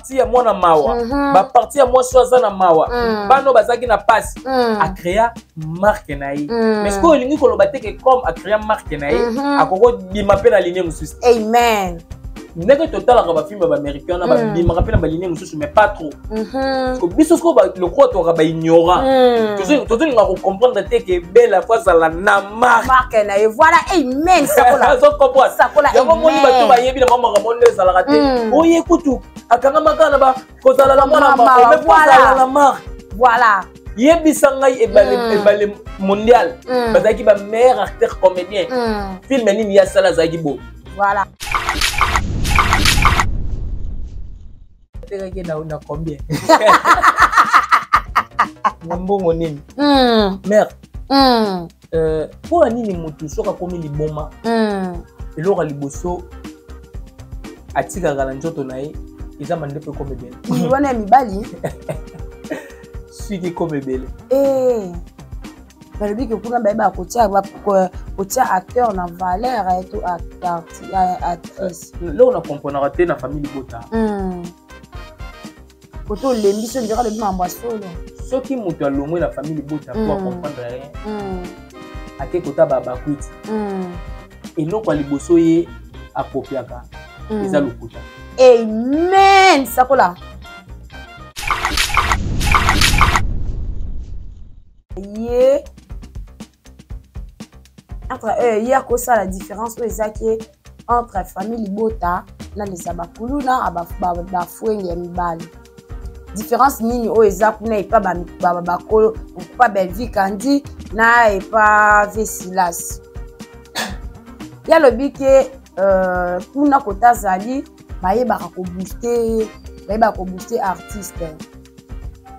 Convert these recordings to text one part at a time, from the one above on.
parti ya mwana mawa mm -hmm. baparti ya mwasi oyo aza na mawa mm. bana oyo bazalaki na mpasi mm. acrea marke na ye mm. mais sikoyo olingi koloba te ke comme acrea marke na ye mm -hmm. akoki kobima mpe na linie mosusu amen ndenge totalaka bafilme ya baaméricain wana hmm. babimaka mpe na baline mosusu mais pas trop mhm. biso soko lokola tokaka baignorant hmm. tozolinga kocomprendre te ke bela fo azala na marke na ye voilà amen sakola yango moni bato bayebi na makambo nde ezalaka te hmm. oye kutu akangamaka na ba kozala na mwana mawa kozala na marke voilà yebisa ngai ebale mm. ebale mondial mm. bazalaki ba meilleur acteur comédien mm. film nini ya sala azalaki bo voilà atekaki na na combien na mbongo nini merde euh, mpo na nini motu soki akomi liboma mm. eloko ya liboso atikaka na nzoto na ye eza mandepo ekoma ebele wana ya mibali suki ekoma ebele eh. balobi ke kuna bayeba kotia kotia acteur na valeur eh, to actrice loko na comprenaka te na famille libota hmm. koto olembi so ndeko alobi makambo ya solo soki moto alongwe na famille libota po acomprendre rien ake kota babakwiti eloko ya liboso ye akopiaka eza lokuta amen sakola ye entre euh, ye akosala différence oyo eza ke entre famille libota na lesa bakulu na bafuenge ya mibali différence nini oyo eza kuna epa bakolo epa bellevie kandi na epa vesilas ye alobi ke euh, kuna kota azali bayebaka kobooste bayebaka kobooste artiste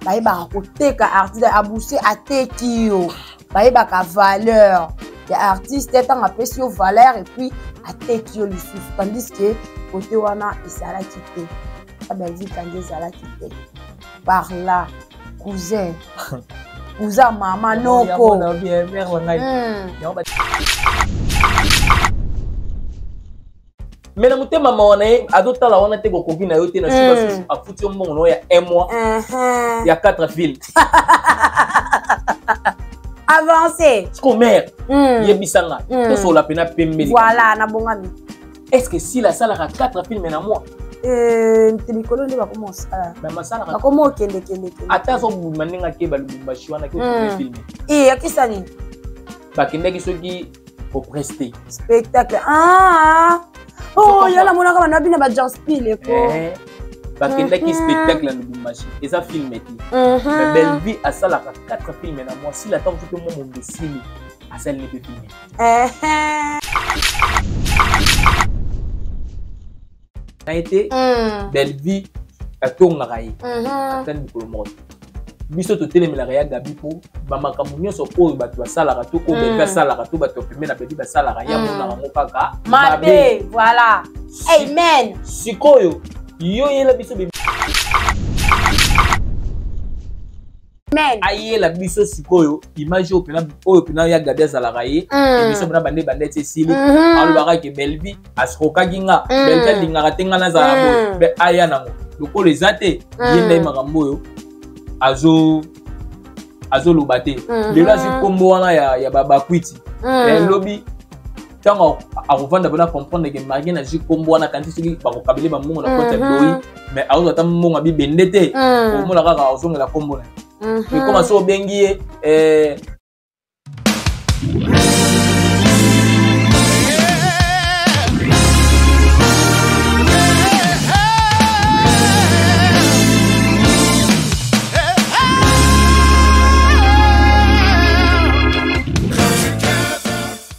bayebaka koteka artiste abuse ateki yo bayebaka valeur ya artiste ntango apesi yo valeur epuis ateki yo lisusu tandis ke kote wana ezalaki te ya bellevie kandi ezalaki te par là cousin cousin mama noko me na motema mawa na ye azotala wana te bokoki na yo te na sika mm. susu afuti yo mbongo na yo ya un mois uh-huh. ya quatre ville avance siko mare mm. yebisa nga mm. tosola mpena pembeli voilà nabongami est ce que sila asalaka quatre filme na mois eh, te mikolo nde bakoma osala bakoma okendekende ata azobuma ndenge akeba lubumbashi wana filme e akisa nini bakendaki soki ko prester spectacle ah oh yo na monaka bana bina ba John Spiel eko eh, bakendaki mhm. spectacle ya lubumbashi eza filme te mhm. mais bellevue asalaka 4 filme na mwasi la ntango soki mwa mombesili asali nebe filme na ye te mm. bellevie atongaka ye mm-hmm. atani mokolo moko te biso totelemelaka ya gabi mpo bamakambo nyonso oyo bato basalaka to oyo bebe mm. asalaka to bato pembe na bebe basalaka ya mm. monaka yango kaka mabe voilà amen sikoyo yo yela biso Amen. ayela biso sikoyo image oyo pena oyo pena ya gabi azalaka ye Mm. emission pena bande bande ti esili Mhm. alobaka ke belvi asikokaki nga Mm. belvi alingaka te nga nazala Mm. boye Be- aya nango lokola eza te ye Mm. nde makambo oyo azo azoloba te Mhm. lelo azwi nkombo wana ya, ya babakwiti Mm. Eh, lobi ntango akovanda mpona comprendre ke marie nazwi nkombo wana kanisi soki bakokabele bambongo na koti ya mhm. biloyi mais akozwa ata mbongo ya bibende te mhm. omona kaka ozongela nkombo na ye mhm. ekoma so obengi ye eh,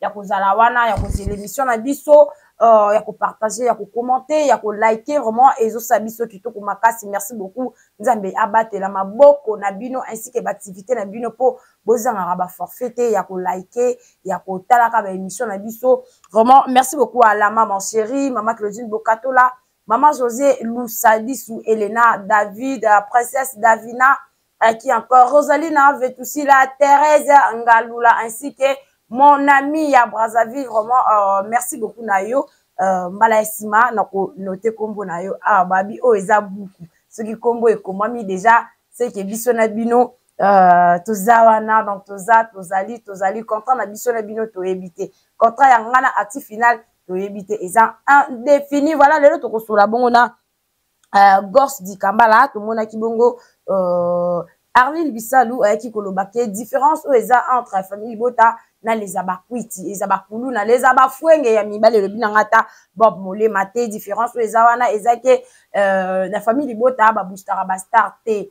ya kozala wana ya kozela émission na biso uh, ya kopartage ya kokommente ya kolike vraiment ezosala biso kitoko makasi merci beaucoup nzambe abatela maboko na bino ainsi ke baaktivité na bino mpo bozangaka baforfait te ya kolike ya kotalaka baémission na biso vraiment merci beaucoup à la maman chérie mama claudine bokatola mama josé lusadisu elena david euh, princesse davina Euh, qui encore Rosalina Vetusila, Thérèse Ngalula, ainsi que mon ami à Brazzaville. Vraiment, euh, merci beaucoup, Nayo. Euh, mbala sima na ko note kombo na yo ah babi oyo oh, eza buku soki kombo ekomami déjà seke biso na bino euh, toza wana donc toza tozali tozali contrat na biso na bino toyebi te contrat ya ngai na actif final toyebi te eza indéfini voilà lelo tokosola bongo na uh, gors dikambala tomonaki bongo uh, arline bisalu ayaki koloba ke différence oyo eza entre famille libota na leza bakwiti eza bakuluna leza bafuenge ya mibali elobi na ngai ata bob molema te différence oyo eza wana eza ke uh, na famille libota babustaka bastar te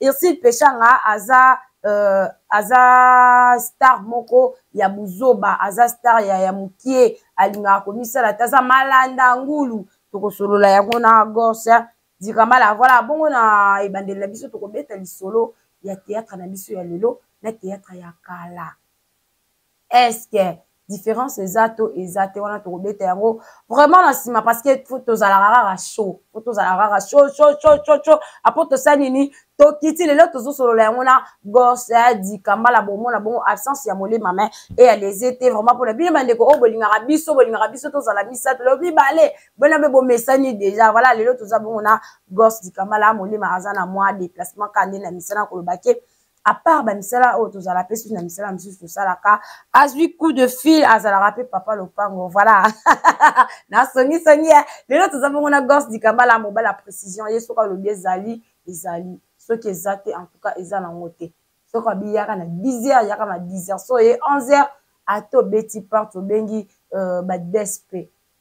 Ursule Peshanga aza euh, aza star moko ya buzoba aza star ya, ya mokie alingaka komisala te aza malanda ngulu tokosolola yango na gorse dikamala voilà bongo na ebandeli na biso tokobeta lisolo ya théâtre na biso ya lelo na théâtre ya kala est-ce que différence eza to eza te wana tokobeta yango vraiment na nsima parce que fo tozalaka kaka chaud fo tozalaka kaka chaud chaud chaud chaud chaud apo tosali nini tokiti lelo tozosolola yango na gorse ya dikambala bomona bongo absence ya molema mai e ya lese te vraiment mpona bino bandeko oyo bolingaka biso bolingaka biso tozala misato lelo mibale bona mpe bomesani deja voilà lelo toza bongo na gorse dikambala molema aza na mwa déplacement kande na misana koloba ke apart bamisala oyo tozala mpe susu na misala misusu tosalaka azwi coup de fil azalaka mpe papa lopango voilà nasongisongi eh. lelo toza bongo na gorce dikambala mobali ya précision ye soki alobi ezali ezali soki eza te en tout cas eza nango te soki abi yaka na 10 heures yaka na 10 heures so ye 11 heures ata obeti porte obengi euh, badespe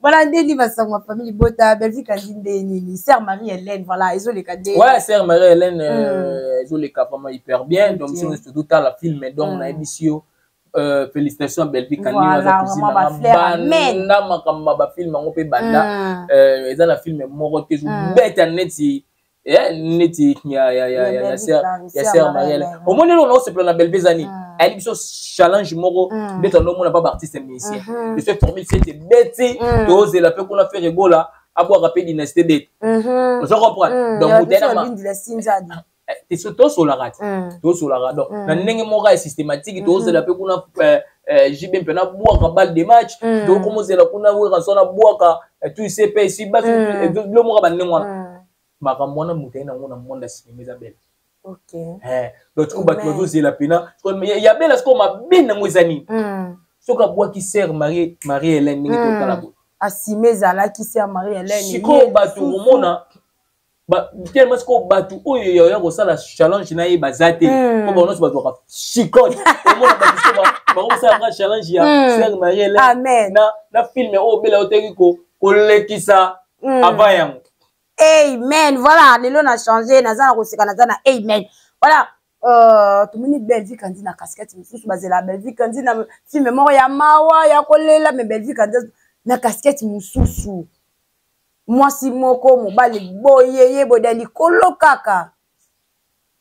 voilà nde nini basango ya famille libota belvie kandi nde nini sœur marie hélène voilà ezoleka nde ouais sœur marie hélène euh, hmm. ezoleka vraiment hyper bien donc biso nyonso totala film donc hmm. nayebisi yo Euh, félicitations à Bellevue Kanini aza cousine na banda makambo ya bafilme yango mpe banda hmm. euh, eza na filme moko te ezobeta neti eh, neti ya ya ya ya ya sœur ya sœur Marielle omoni lelo na osepela na Bellevue zani mm. ayeli biso challenge moko mm. nde tando mona ba ba artiste musicien mm-hmm. je suis formé c'est beti mm. tozela pe kuna faire gola abwaka pe dynastie beti mm-hmm. ozo comprendre donc mutena ma eh, eh, tosolaka te tosolaka donc na ndenge moko ya systématique tozela pe kuna eh, eh, JB mpe nabwaka balle de match mm. donc komozela kuna weranso nabwaka eh, tu sais mpe esi basi mm. eh, bilo moka bandenge wana mm. makambo wana moto aye nango na monde ya sinema eza bele donc sikoyo bato bazozela mpena ya bela sikoyo mabe nango eza nini mm. soki abwaki sere marie helene ndenge totala mm. boye asime ezalaki sere marie helene sikoyo bato komona tellement sikoyo bato oyo yaoya kosala challenge na ye baza te hmm. po bango nyonso bato baka chicote omona bato sikoyo bakosala nga challenge ya hmm. ser mariele na filme oyo obela oteki kolekisa hmm. avant yango amen voilà lelo na change naza na koseka naza na amen voilà Euh, tomoni bellevie kandi na casquette mosusu bazela bellevie kandi na filme moko ya mawa ya kolela me bellevie kandi na casquette mosusu mwasi moko mobali boyeye boye na likolo kaka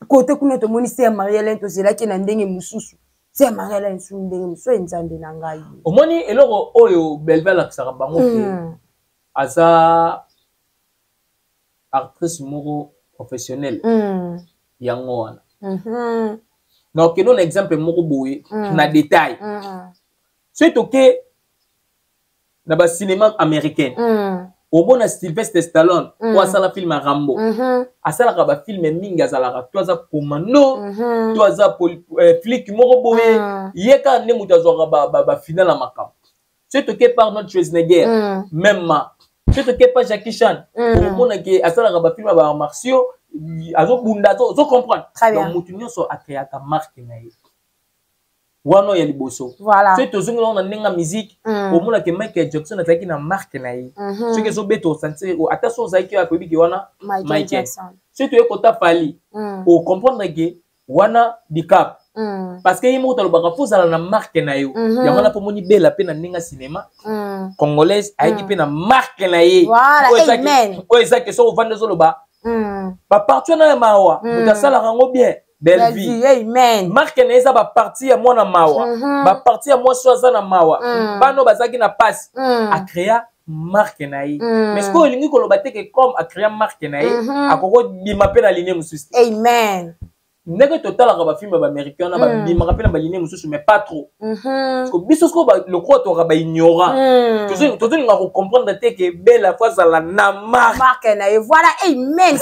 kote kuna tomoni se ya maria lene tozelaki na ndenge mosusu se ya maria lene su ndenge mosusu ye nzambe na ngai omoni eloko oyo belve alakisaka bango te mm. aza actrice moko professionnelle mm. yango wana mm -hmm. na okendo na exemple moko boye mm. na détail mm. soki toke na ba cinéma américain mm. omona sylvestre stallone mm. oyo asala film ya rambo mm -hmm. asalaka bafilme mingi azalaka to aza commando mm -hmm. to aza eh, flike moko boye mm. ye kaka nde moto azwaka bafinal ba, ba ya makambo soki toke par notre schwarzenegger mm. même ma soki toke par jackie chan mm. omona ke asalaka bafilme ya ba martio azobunda ozocomprendre donc moto nyonso akreaka marke na ye wana ya liboso voilà. soki tozongi nango na ndenge ya miziki mm. omona ke michael jackson azalaki na marke na ye mm -hmm. soki ezobeta osanse ata so ozalaki oyo koyebi ke wana michael soki toye kota pali mm. ocomprendre ke wana dicap mm. parce que ye moko talobaka fo ozala na marke na yo mm -hmm. yango wana mpo omoni bela mpe na ndenge ya cinema mm. congolaise ayaki mm. mpe na marke na ye oyo eza ke soki ovandi ozoloba mm. baparti wana ya mawa mm. moto asalaka yango bien Bellevue. Amen. Marque na eza ba partie ya mwana mawa. Mm -hmm. Ba partie ya mwasi aza na mawa. Mm. Bano bazaki na pasi. Mm. A créa marque na ye. Mm. Mais sikoyo olingi koloba te que comme a créa marque na ye, mm -hmm. akoko bima pe na ligne mosusu. Amen. Ndenge totalaka ba film ba américain na ba mm. bimaka pe na ba ligne mosusu mais pas trop. Mhm. biso siko lokola toka baignorant hmm. tozolinga kocomprendre te ke bela fo azala na marke na ye voilà amen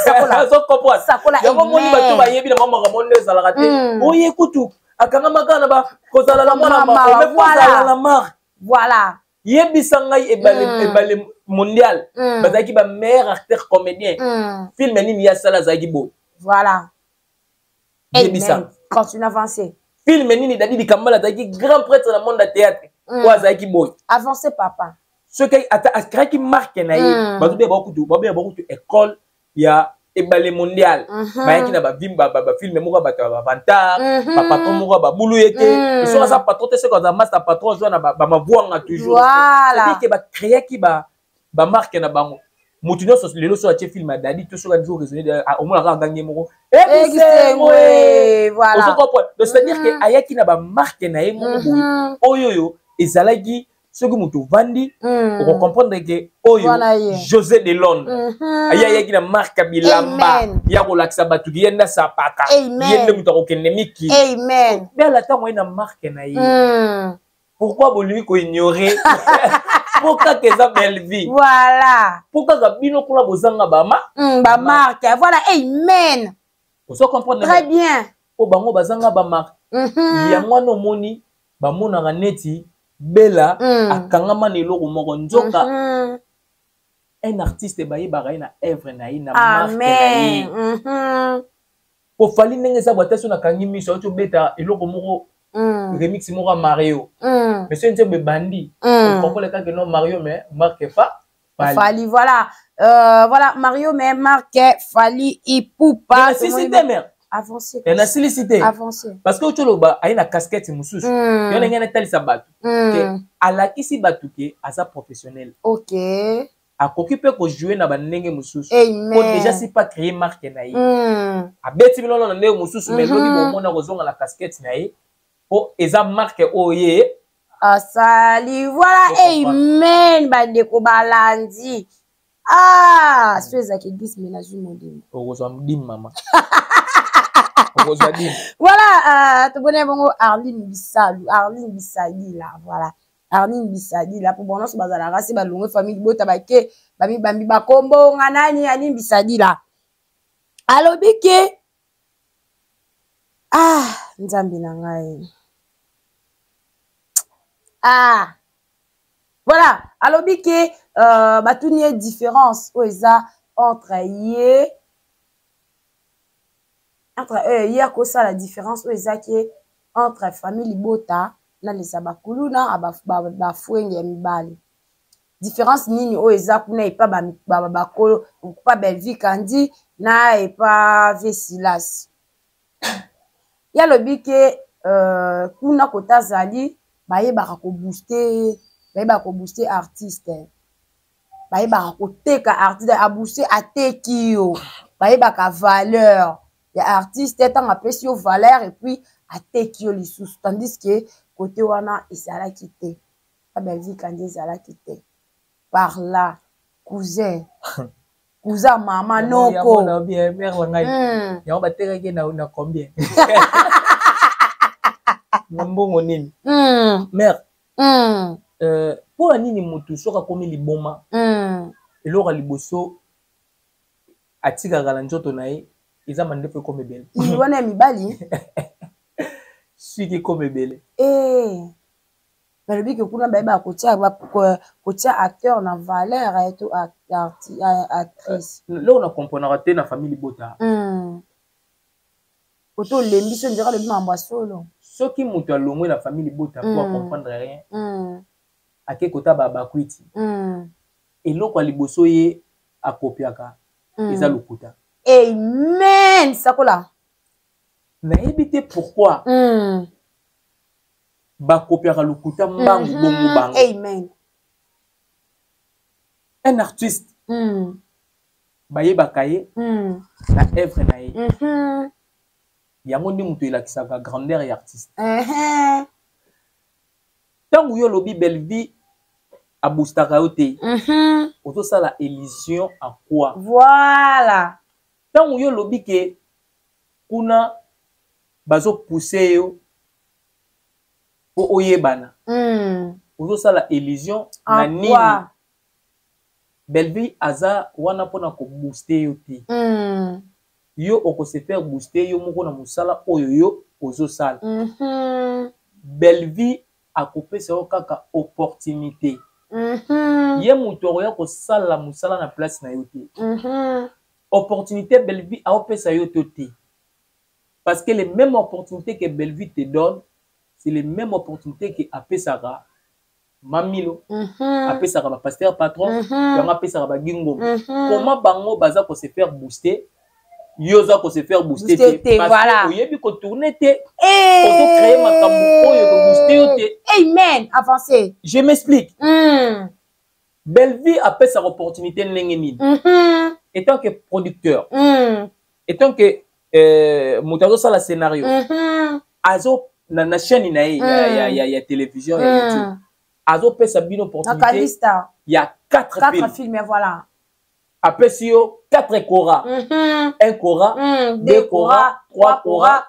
yango moni bato bayebi na mamaka moni nde ezalaka te hmm. oye kutu akangamaka na bakozala na mwana makozala na marke voilà yebisa ngai ebale hmm. ebale mondial bazalaki ba meilleur acteur comédien film nini ye asala azalaki boye voilà yebisa continue avancer film nini dadi likambala azalaki grand prêtre na monde ya théâtre mm. oyo azalaki boye avancer papa soki ata akraki marke na ye mm. bato beba kutu babeya bakutu école ya ebale mondial mhm. bayaki na bafilme moko ya bato ya bavantar mhm. bapatron moko ya babulu ye te mm. soki aza patron te soki aza masta patron azwa na bamavuanga toujours ke bacreaki ba ba marque na bango moto nyonso lelo soki atie film ya dadi to soki azo raisonne ah, omona kaka gangi moko ekisengo eh, ozo comprendre donc c'est à dire que mm-hmm. ayaki na ba marque na ye moko boye mm-hmm. oyo oyo ezalaki soki moto ovandi mm. okocomprendre ke oyo josé de londre mm-hmm. aye ayaki na marka bilamba ya kolakisa bato ki ye nde asapaka ye nde moto akokende miki bela ntango aye na marke na ye mm. pourquoi bolingi koignore po kaka eza bellevie voilà po kaka bino kuna bozanga bama mm, bamarke voilà amen ozo comprendre très bien po bango bazanga bamarke mm -hmm. yango wana omoni bamonaka neti bela mm. akangama na eloko moko nzoka mm -hmm. un artiste bayebaka ye na œuvre na ye na marke na ye mm -hmm. po fali ndenge eza bwata so nakangi miso auti obeta eloko moko mm. remix moko ya mario mm. mais soki nzembo ebandi mm. okokola kaka no mario mais marke fa fali, fali voilà euh, voilà mario mais marke fali ipupa sisi demer avancer na silisi te avancer parce que oyo toloba aye na casquette mosusu mm. yo ndenge natalisa bato mm. ke alakisi bato ke aza professionnel okay. akoki mpe kojoue na bandenge mosusu po déjà si pas créer marque na ye mm. abeti bino na ndenge mosusu mais lobi mhm. bomona kozonga na casquette na ye po eza marque oyo ye asali voilà amen bandeko balandi ah mm. so ezalaki dis me nazwi molimo okozwa mdim mama okozwa dim voilà euh, tobonai bongo arline bisalu arline bisalila voilà Arline Bisadila po banso bazalaka se balongwe famille libota bake bamibambi bakombo nga nani Arline Bisadila alobi ke ah nzambe na ngai ah voilà alobi ke euh, batuni ye différence oyo eza entre ye entre euh, ye akosala différence oyo eza ke entre famille libota na lesa bakuluna bafuenge ya mibali différence nini oyo eza kuna epa bakolo pa belvi kandi na epa vesilas ye alobi ke euh, kuna kota azali bayebaka kobooste bayebaka kobooste artiste bayebaka koteka artiste abuse ateki yo bayebaka valeur ya artiste ntango apesi yo valeur epuis ateki yo lisusu tandis ke kote wana ezalaki te na belvie kandi ezalaki te par là cousin kuza mama noko hmm. yango batekaki na combien na mbongo nini hmm. mare mm. euh, mpo na nini motu soki akomi liboma mm. eloko ya liboso atikaka na nzoto na ye eza mandefu ekoma ebele wana ya mibali suki ekoma ebele eh. balobi ke kuna bayebaka kotia kotia acteur na valeur eh, to eh, actrice loko na comprenaka te na famille libota mm. koto olembi so nzeka alobi makambo ya solo soki moto alongwe na famille libota mpo mm. acomprendre rien mm. ake kota babakwiti mm. eloko ya liboso ye akopiaka mm. eza lokuta amen sakola nayebi te pourkui mm. bakopiaka lokuta mbangu mm -hmm. bongo bango amen un artiste mm. bayebaka ye mm. na œuvre na ye mm -hmm. yango nde moto elakisaka grandeur ya artiste ntango mm -hmm. yo olobi bellevie abustaka yo te mm -hmm. ozosala illusion à quoi voilà ntango yo olobi ke kuna bazopuse yo mpo oyebana mm. ozosala illusion na nini Bellevue aza wana pona ko booster yo te. Mm. Yo oko se faire booster yo moko na musala oyo yo ozo sala. Mm -hmm. Bellevue akopesa yo kaka opportunité. Mm -hmm. Ye mutu akoya kosala musala na place na yo te. Mm -hmm. Opportunité Bellevue aopesa yo to te. Parce que les mêmes opportunités que Bellevue te donne, c'est les mêmes opportunités que apesaka mamilo mhm. apesaka ba pasteur patron mhm. yango apesaka ba gingom mhm. comment bango baza ko se faire booster yo oza ko se faire booster te voilà oyebi ko tourner te eh. ozo créer makambo oyo ko booster yo te amen avancer je m'explique mm. Bellevue apesaka opportunité ndenge nini mm -hmm. étant que producteur mm. etant que euh, moto azosala scénario mm -hmm. azo na, na chaîne na ye mm. ya, ya, ya, ya télévision mm. ya youtube azopesa bino opportunité ya 4 films. films ya voilà apesi yo 4 cora mm -hmm. 1 cora mm, 2 cora 3 cora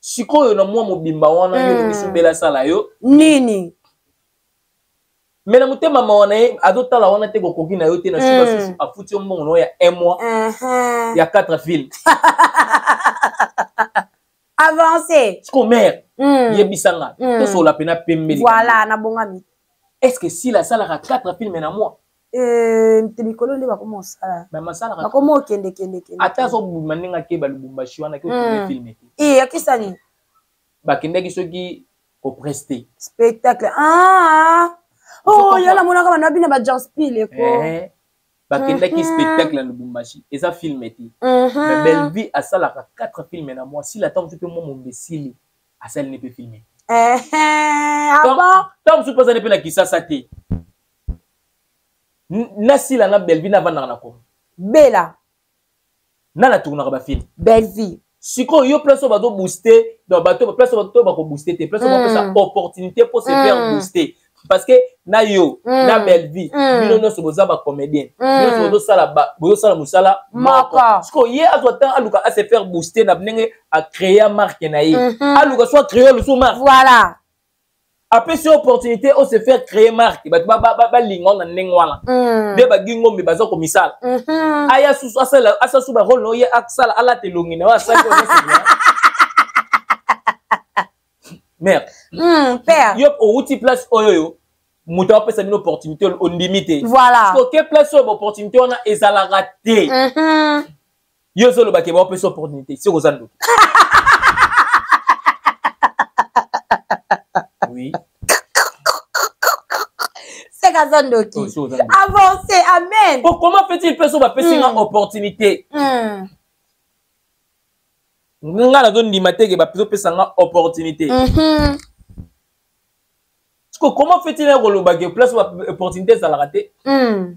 sikoyo na mwa mobimba wana mm. yo misu bela sala yo nini me na motema mawa na ye azotala wana te kokoki na yo te na suka susu afuti yo mbongo na yo ya un mois uh-huh. ya quatre ville avance siko mare mm. yebisa nga mm. tosola mpena pembeli voilà nabongami est ce que sila asalaka quatre filme na mois Eh, te mikolo nde bakoma osala bakoma okendekendekende azobima ndenge akeba lubumbashi wana ke otourne hmm. filme te e eh, akisani bakendaki soki kopreste spectacle ah! oh, yo namonaka bana bina bajanspil eko eh, bakendaki mhm. spectacle na lubumbashi eza filme te mhm. mais bellevie asalaka 4 filme na mwa sila ntango mosusu mpe mwa mombe esili asali ne mpe filme ntango mosusu mpe azali mpe na kisasa te na sila na belvi na vandaka na kongo bela na na tournaka bafilme belvi sikoyo yo place oyo bazo booste donc bato place oyo bato bakobooste te place oyo mm. bapesa opportunité mpo se faire mm. booster parce que na yo mm. na belvi mm. bino nyonso boza bacomédien mm. nyonso bozosala bozosala mosala moko sikoyo ye azwa ntango aluka ase faire booster na ndenge acréa marke na ye mm -hmm. aluka so acréa lusu marke voilà apesi yo opportunité o se faire créer marque bato balinga na ndenge wana mm. nde bagi ngombe baza komisala mm-hmm. aya susu asala su barole na oye asala alata elongi na yo asali mère mm, père yo owuti place oyo yo moto apesa bino opportunité ondimi te voilà soke place oyo baopportunité wana ezalaka te mm-hmm. yo ozoloba ke baopesa opportunité soki oza ndoki oui seke aza ndoki oh, avance amen oh, comment fait-il mpe so bapesi nga hmm. opportunité hmm. nga nazondima teke bazopesa nga opportunité mhm. comment fait-il ya koloba ke place opportunité ezalaka te hmm.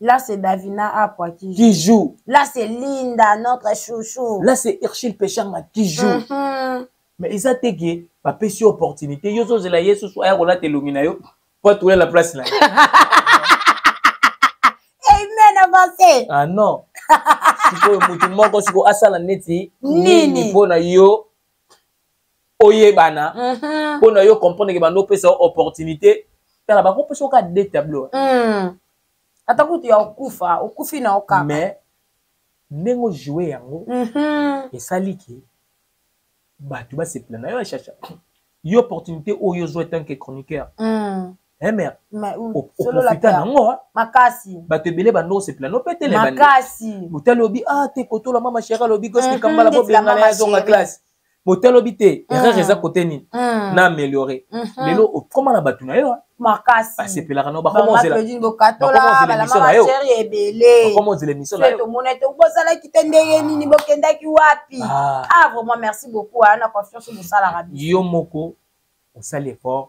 Là, c'est Davina Apwa qui joue. Qui joue. Là, c'est Linda, notre chouchou. Là, c'est Urshil Peshanga qui joue. Mm -hmm. Mais ils ont dit que ma pêche opportunité. Yo, je la yesu, soit ayola te lumina yo. Pas tout la place là. Amen, avancez. Ah non. sikoyo motu moko sikoyo asala neti nini mpo na yo oyebana mhm. mpo na yo comprendre ke bando opesa yo opportunité tala bakopesa yo ka de tableau mm. ata kutu ya okufa okufi na okaka mais ndenge ojoue yango mhm. esali ke bato basepela na yo achacha yo opportunité oyo ozwa etant ke chroniqueur mm. Eh, mère oprofita nango ah. makasi bato ebele bando osepela no petelemotali obi a ah, te kotola mama sheri alobi gosikambala mhm, bobengana ya zonga classe bote alobi te mm. erreur eza kote nini mm. na améliorer mm-hmm. lelo okoma na bato na yo ah. makasi basepelaka na bakoma ozela émission na yotomona te bozalaki te ndenge ah. nini bokendaki wapi ah. ah vraiment merci beaucoup aa na confiance bosalaka yo moko osali effort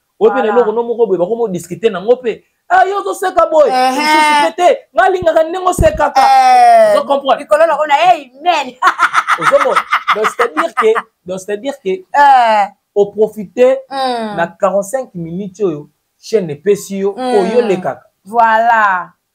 oyo mpe na eloko no moko boye bakomi odiscute nango mpe ah, yo ozoseka boye mosusu mpe te nga alingaka ndenge osekaka eh, ozokomprendrelikolo nango na amen ozomona donc c'est-à-dire que donc c'est-à-dire que eh. oprofite hmm. na 45 minutes oyo chaîne epesi yo hmm. oyolekaka voilà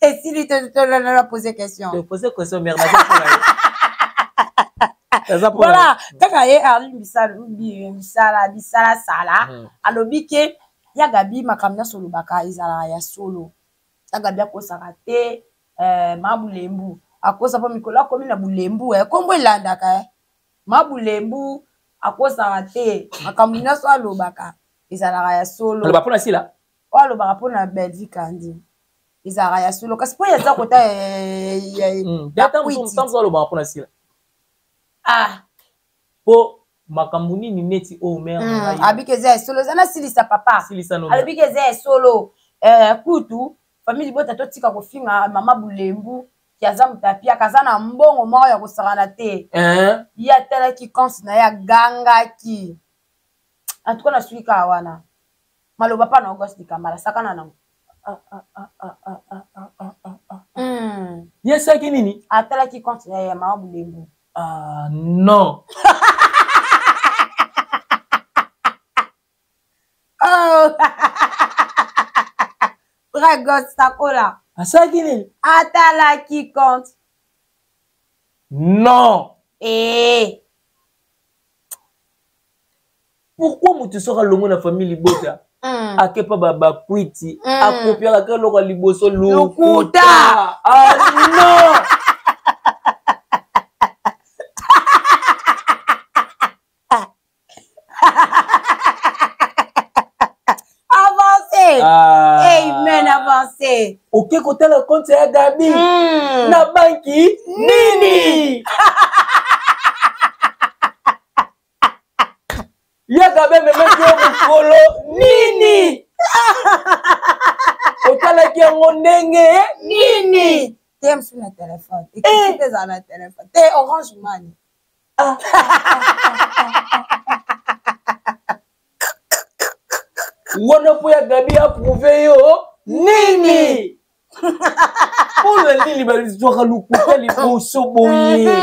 esili tolala pose question pose question mère voilà kaka ye arli bisala bisala sala hmm. alobi ke ya gabi makambo nyonso olobaka ezalaka ya solo ya gabi akosaka te eh, ma bulembu akosa mpo mikolo akomi na bulembu eh, nkombo elandaka eh. ma bulembu akosaka te makambo nyonso alobaka ezalaka ya solo aloba mpo na sila oyo alobaka mpo na belvi kandi ezalaka ya solo kasi mpo yaza kota yakuititanso alobaka mpo na sila ah mpo makambo nini neti oyo oh, mere hmm, abiki eza ya solo eza nasilisa papa alobiki eza ya solo eh, kutu famille libota totika kofinga mama bulembu kiaza moto apiaka aza na mbongo moko ya kosakana te eh? ye atalaki conse na ye agangaki antuka nasuki kaka wana maloba pa na ogas dikambala sakana nango ye saki nini atalaki compte ya mama bulembu ah, non oh. vrai gos sakola asalaki nini atalaki compte non ee eh. pourquoi moto soki alongo na famille libota mm. akepa bakwiti mm. akopiaka ka eloko ya liboso lokuta ah, non Ah. amen avance oke kotala konte ya gabi mm. na banki nini yaka be memeki yo mokolo nini otalaki yango ndenge nini te mosusu na telefone ekisi te ezala na telefone te orange mani ah. wana mpo ya gabi aprouve yo nini mpo na nini bazwaka lokuta liboso boye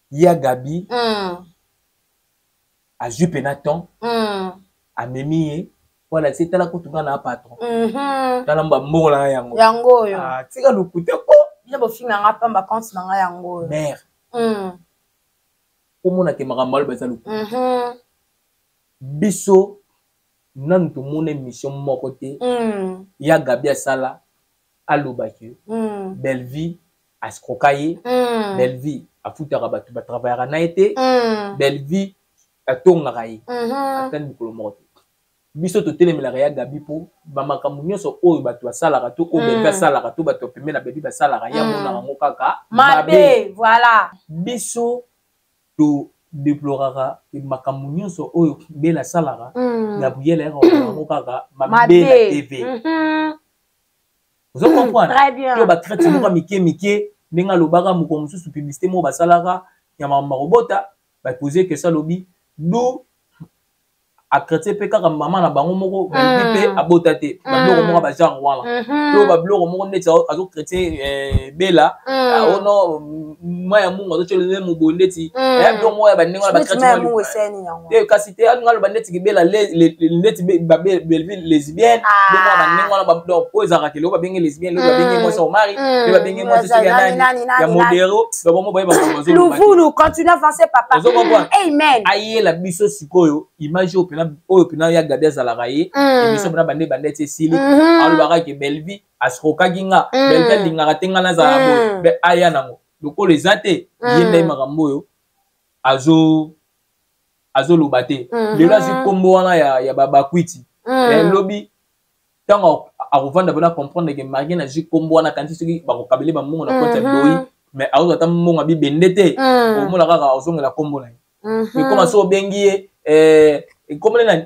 ya gabi mm. azwi mpena temps mm. amemi ye po alakisi tala kutu nga na patron mm -hmm. tala mbambongo na nga yango yango oyo ah, tika lokuta po nde bofinga nga pamba compte na nga yango oyo mare mm. omona te makambo aloba eza lokuta mm -hmm. biso nanu tomona émission moko te mm. ya gabi asala aloba ke mm. bellevie ascroka ye mm. bellevie afutaka bato batravayaka na ye te mm. bellevie atongaka ye mm -hmm. atani mokolo moko te biso totelemelaka ya gabi mpo bamakambo nyonso oyo bato basalaka to oyo bebe mm. asalaka to bato bapembe na bebi basalaka ye amonaka mm. yango kaka mabe voilà biso todeploraka makambo nyonso oyo bela asalaka mm. gabriel ayaka yango kaka mabe na tv mm-hmm. ozo hmm, comprendre to ba traite moko hmm. mike mike ndenge alobaka moko mosusu publicité moko basalaka ya makambo makobota bapose que salobi du akrete mpe kaka mama na bango moko balobi mpe hmm. abota te hmm. babiloko moko bagenre wana hmm. to babiloko moko ndeti azokrete eh, bela aono ah, oh mai ya mungu azotyoli ne moboye ndeti hmm. eh, do moko ya bandenge wana bakratete eh, kasi te alinga aloba ndeti kibela ndeti babelville lesbienne ah. do moko ya bandenge wana donc oyo ezalaka keloko babenge lesbienne lobi babenge hmm. mwasi ya omari mpe babenge mwasi soki ya nani ya modero babomo baye bakoluvulu continue avancer papa ozokomprendre amen ayela biso sikoyo image oyo mpena oyo mpena ya gabi azalaka ye emission mpena bande bande ti esili alobaka ke belvie asrokaki nga mm. belke alingaka te nga nazala mm. boye mpe aya nango lokola eza te mm. ye ndai makambo oyo azo azoloba te mm -hmm. lelo azwi nkombo wana ya, ya babakwiti mm. eh, lobi ntango akovanda mpona comprendre ke marie nazwi nkombo wana kanisi soki bakokabele bambongo na konti ya mm-hmm. boyi mais akozwa ata mbongo ya bibende te mm. omona kaka ozongela nkombo na ye ekoma mm-hmm. so obengi ye eh, ekomele nani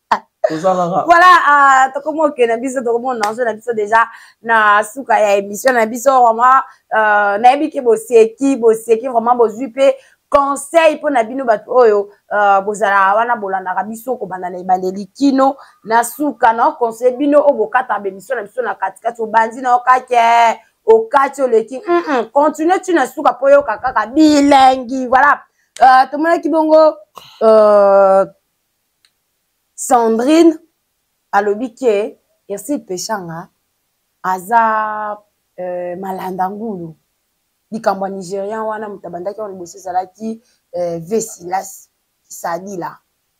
voilà ah, tokomi oke na biso tokomona enjeu na biso déjà na suka ya émission na biso vraiment euh, nayebi ke boseki boseki vraiment bozwi mpe conseil mpo na bino bato oyo euh, bozalaka wana bolandaka biso kobanda na ebandeli kino na suka na oconseille bino oyo bokataka bemission na biso na katikati obandi na okake eh, okati oleki mm -mm. continue ti na suka mpo oyoka kaka bilengi voilà euh, tomonaki bongo euh, sandrine alobi ke ersil peshanga aza euh, malanda ngulu likambo ya nigérian wana moto abandaki yango liboso ezalaki euh, vesilas kisadila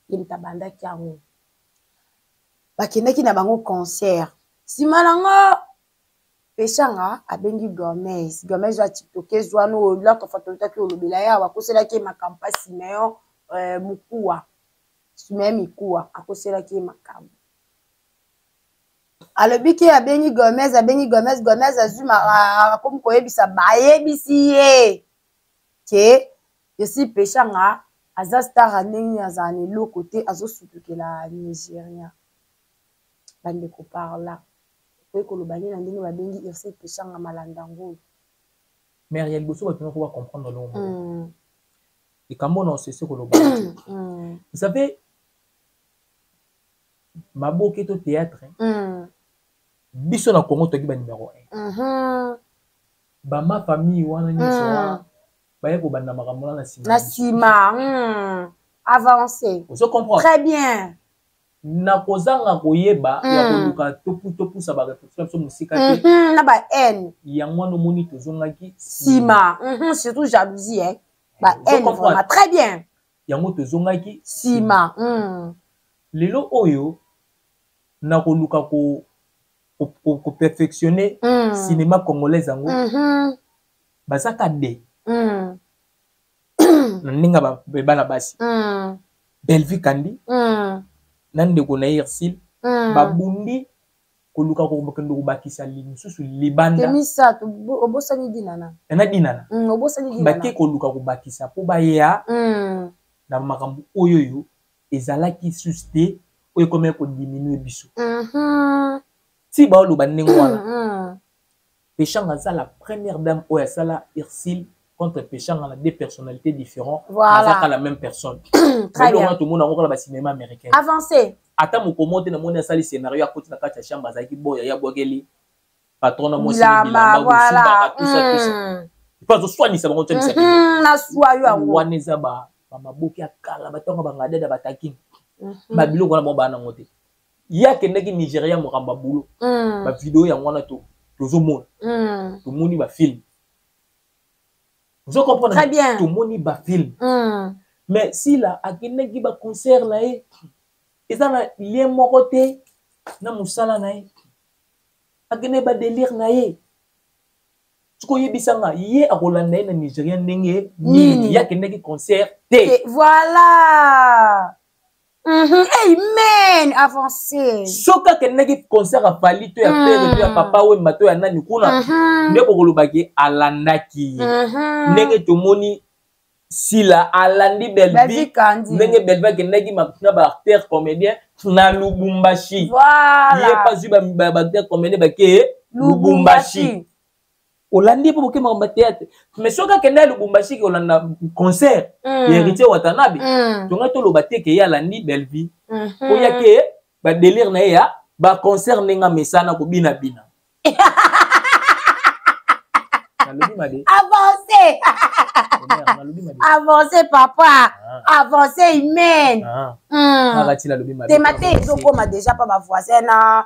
ye moto abandaki yango bakendaki na bango concert nsima nango peshanga abengi gomes gomes ya tiktokese wana oyo laka fatolotaki olobela ye awa akoselaki ye makambo mpa simeon euh, mokuwa simeon mikuwa akoselaki ye makambo alobi ke abengi gomes abengi gomes gomes azwi akomi koyebisa bayebisi ye ke esi peshanga aza star ndenge azala na eloko te azosutukela nigeria bandeko par là ekoki koloba nde na ndenge babengi irse peshanga malanda ngulu mare ya liboso bato noko bacomprendre longo moko mm. likambo na osese koloba mm. vous savez maboke to théâtre mm. biso na congo toki banimero 1 mm-hmm. bama famille wana nyonso mm. wana baye kobanda makambo wana na nsima na nsima mm. avance ozo comprendre très bien na kozanga koyeba ya hmm. koluka topusa bareproduction na biso mosika te hmm, na bahaine yango wana omoni tozongaki nsima hmm, surtout jalousie eh. bahaine vraiment très bien yango tozongaki nsima lelo oyo na koluka ko koperfectionne ko, ko, ko cinéma congolaise yango bazaka de na ndenge ya bana basi mm. bellevue kandi mm. na ndeko na ye irsile mm. babundi koluka kokende kobakisa mosusu libanda misato obosani dinana eh, na dinana mm, obosani dinana bake koluka kobakisa mpo baya mm. na makambo oyo oyo ezalaki susu te oyo ekomaki kodiminue biso mm -hmm. ti baoloba ndenge wana mm -hmm. Peshanga aza la première dame oyo asala Ursule contre Peshanga na deux personnalités différentes. Voilà. Aza pas la même personne. Très bien. Tout le monde a encore le cinéma américain. Avancez. Ata mokomo te na moni asali scénario ya koti na kati ya chambre azalaki boya ya bwakeli patron na mwasi bilamba voilà. bosumbaka tout ça tout ça. Mm. Mpo azoswanisa bango tyanisa bino. Mm-hmm. Naswa yo yango. Wana eza ba bamaboki ya kala batonga bangadada batakini. Mm-hmm. Babiloko wana bango baa nango te. ye akendaki nigeria mokamba bulo mm. bavideo yango wana tozomona mm. tomoni bafilme ozo comprendre tomoni bafilme mm. mais sila akendaki baconcert na ye eza na lien moko te na mosala na ye akendaki badelire na ye soki oyebisa nga ye akolanda ye na nigeria ndenge nini ye akendaki concert te voilà Mm -hmm. Amen. Avancer. Soki akendaki concert ya Fally to ya mm. Pere to ya Papa Wemba to ya nani kuna mm -hmm. nde bokolobaki alandaki ye. Mm -hmm. Ndenge tomoni Sila alandi Bellevue ndenge Bellevue akendaki na ba acteurs comédiens na Lubumbashi. Voilà. Ye pas ba ba acteurs comédiens ba ke Lubumbashi. Lubumbashi. olandi mpo bokema kamba théâtre mais soki akenda ya lubumbashi ke olanda concert mm. ya héritier watanabe mm. tongai toloba te ke ye alandi bellevie mm -hmm. oya ke badelire na ye ya baconcert ndenge amesana kobinabina nalobi mabe avance avance papa ah. avance imene ah. hmm. ah, te mate ezokoma deja mpa bavoisin na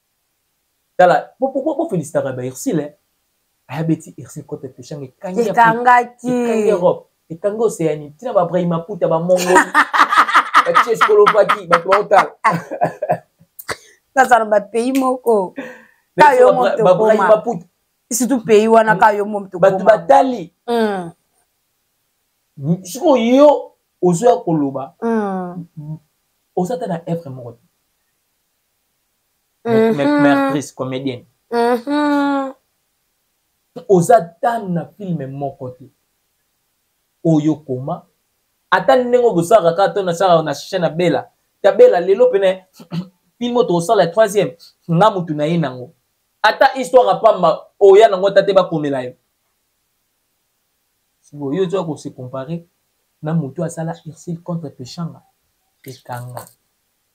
tala pourquoi bo felicitaka ba Ursule hein? aya beti Ursule kote peshanga ekangi ekangaki ekangi Europe ekangi Océanie tina ba Brahima Puta ba Mongo ba Tchescolovaquie bato baotala nazala ba pays moko ka yo mo to koma surtout pays wana ka yo mo to koma bato batali hmm. sikoyo yo ozoya koloba hmm. oza ata na evre moko te mhm. mertrice comédienne mhm. oza tane na filme moko te oyo koma ata ndenge obosalaka kaka to nasalaka na chaine ya bela ta bela lelo pene filme oyo tokosala ya troisième nga motu na ye nango ata histoire ya pamba oya nango ata te bakomela yo sikoyo yo ozoya kose compare na motu asala ursile contre peshanga ekanga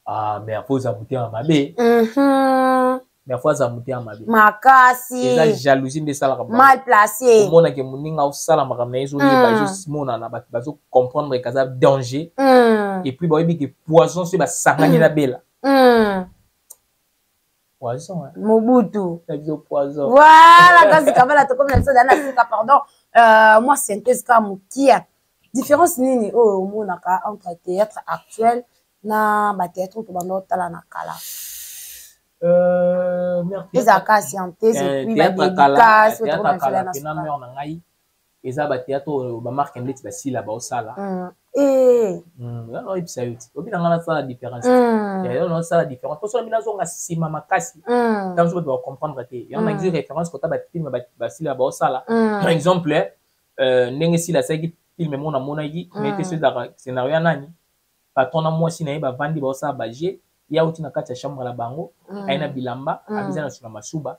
Ah, mais apo oza motema mabe Mhm. mais apo aza motema mabe eza makasi jalousie nde esalaka bango. mal place omonake moninga osala makambo na ye ezoyeba Mm. ezomonana bato bazocomprendre ke aza danger Mm, epuis bayebi ke poison soki basangani Mm. na bela mm. poison hein. mobutu ezo poison voilà kasi kabala tokomi na biso dana sika pardon euh, mwa synthèse kaka mokia différence nini oyo oh, omonaka entre théâtre actuel na bathéâtre oyo tobanda otala na kala euh, ezalaka scientese epuis badédicace oyo tokomi na biso dana sika eza ba théâtre oyo ba marque ndeti ba sila ba osala mm. eh mm yo no ibisa yo ti obi na ngana sala différence mm. ya yo no sala différence parce que mina zonga sima makasi mm. tant que tu vas comprendre que ya na mm. référence ko ta ba film ba, ba sila ba osala mm. par exemple euh ndenge sila sa ki film mona mona ki mm. mais te ce scénario nani patron na mwasi na ye ba vandi ba osala ba jeu ya uti na kati ya chambre la bango mm. ayina bilamba mm. abiza na sima masuba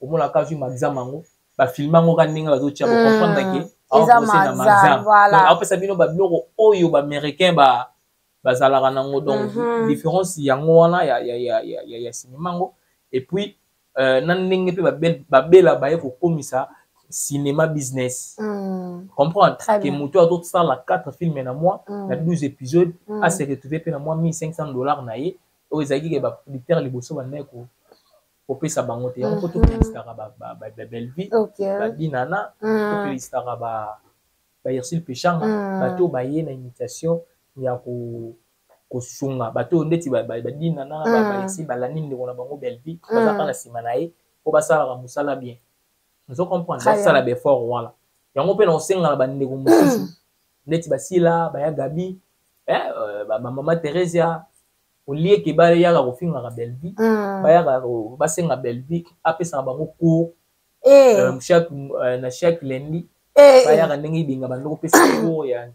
omona ka azwi maxam yango bafilme yango ka ndenge bazotia hmm. bocomprendre ke aokose na maxam aopesa bino babiloko oyo baaméricain ba bazalaka nango donc mhm. différence yango wana ya, ya, ya, ya, ya, ya cinema yango et puis euh, na ndenge mpe babela baye kokomisa cinéma business mm. comprendre ke moto azosala 4 filme na mois mm. na 12 épisode mm. ase retrouve mpe na mwa 1500 dollars na ye oyo ezalaki ke baproducteur liboso bandaki kopesa bango te yango mpo tofelisitaka babelvie badinana tofelisitaka ba bairsil peshanga bato oyo baye na initiation ya ko kosunga bato oyo ndeti badinana bairsil balandi ndeko na bango belvie baza mpa na nsima na ye mpo basalaka mosala bien ozo comprendre basala baeffort wana yango mpe na kosenga na bandeko mosusu ndeti basila baya gabi eh, euh, bamama theresia olie ke bayaka kofingaka belvi mm. bayaka basenga belvi apesaka bango cour eh. euh, euh, na chaque lundi eh, eh. bayaka ndenge ibenga bando kopesa cour ya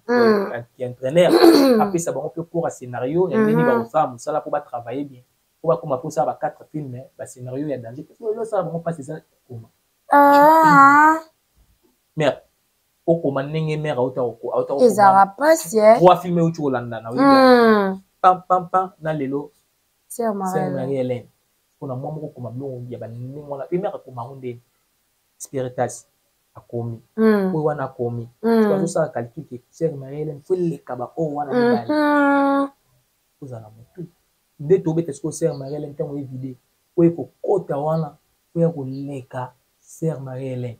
entraîneur mm. apesa bango mpe cour ya scénario ya ndenge mm-hmm. bakosala mosala mpo batravaille bien mpo bakoma mposa ba 4 film bascénario ya danger parce que elosala bango mpasi eza kokoma ah. mais okoma ndenge mère auta oko auta oko ezara pasi eh trois films euti kolandana oui hmm. pam pam pam na lelo sœur Marie Hélène pona mwa moko koma biloko ya ba ndenge wana pe mère akoma ngo ndenge spiritas akomi hmm. oyo wana akomi hmm. azosala calcul ke sœur Marie Hélène fo eleka ba oyo wana mibale ozala motu nde tobeta sikoyo sœur Marie Hélène ntango evide oyo ekokota wana oya koleka sœur Marie Hélène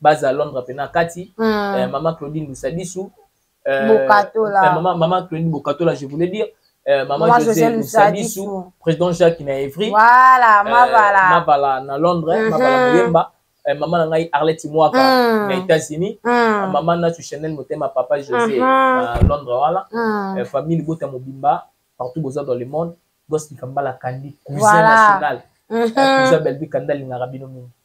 baza londre pena kati mm. eh, mama claudine lusadisu eh, bokatola eh, mama, mama claudine bokatola je voulais dire eh, mama, mama josé lusadisu président jacques na evry voilà, eh, mavala mavala na londre mm -hmm. mavala moyemba eh, mama na ngai arlette mwaka mm. na états-unis mm. mama nasu chanel motema papa josé mm -hmm. na londre wana mm. eh, famille libota mobimba partout boza dans le monde gospel kambala kandi cousin voilà. national mm -hmm. eh, cousin belbi kanda alingaka bino mingi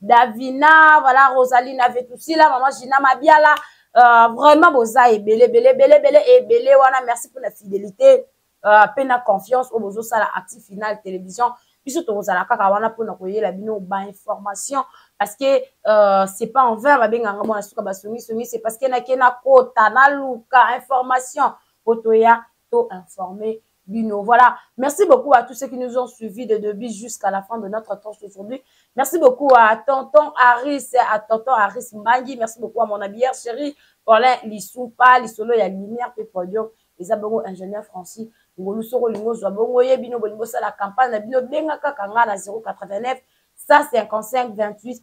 Davina, voilà Rosalina Vetusila, maman Gina Mabiala, euh, vraiment boza ebele ebele ebele ebele ebele wana merci pour la fidélité euh, pe na confiance oyo bozosala actif final télévision biso tokozala kaka wana mpona koyela bino bainformation parce que euh, c'est pas en vain babenganga mwana suka basongisongi c'est parce que nake nakota naluka information po toya to informe bino. Voilà. Merci beaucoup à tous ceux qui nous ont suivis de début jusqu'à la fin de notre temps aujourd'hui. Merci beaucoup à Tonton Harris, à Tonton Harris Mangi. Merci beaucoup à mon habilleur chéri, Paulin Lissoupa, Lissolo, il y a lumière, puis podium. Les abongo ingénieur Francis. Ngolu soko lingo zwa bongo ye bino bolingo sala campagne na bino benga kaka nga na 089 155 28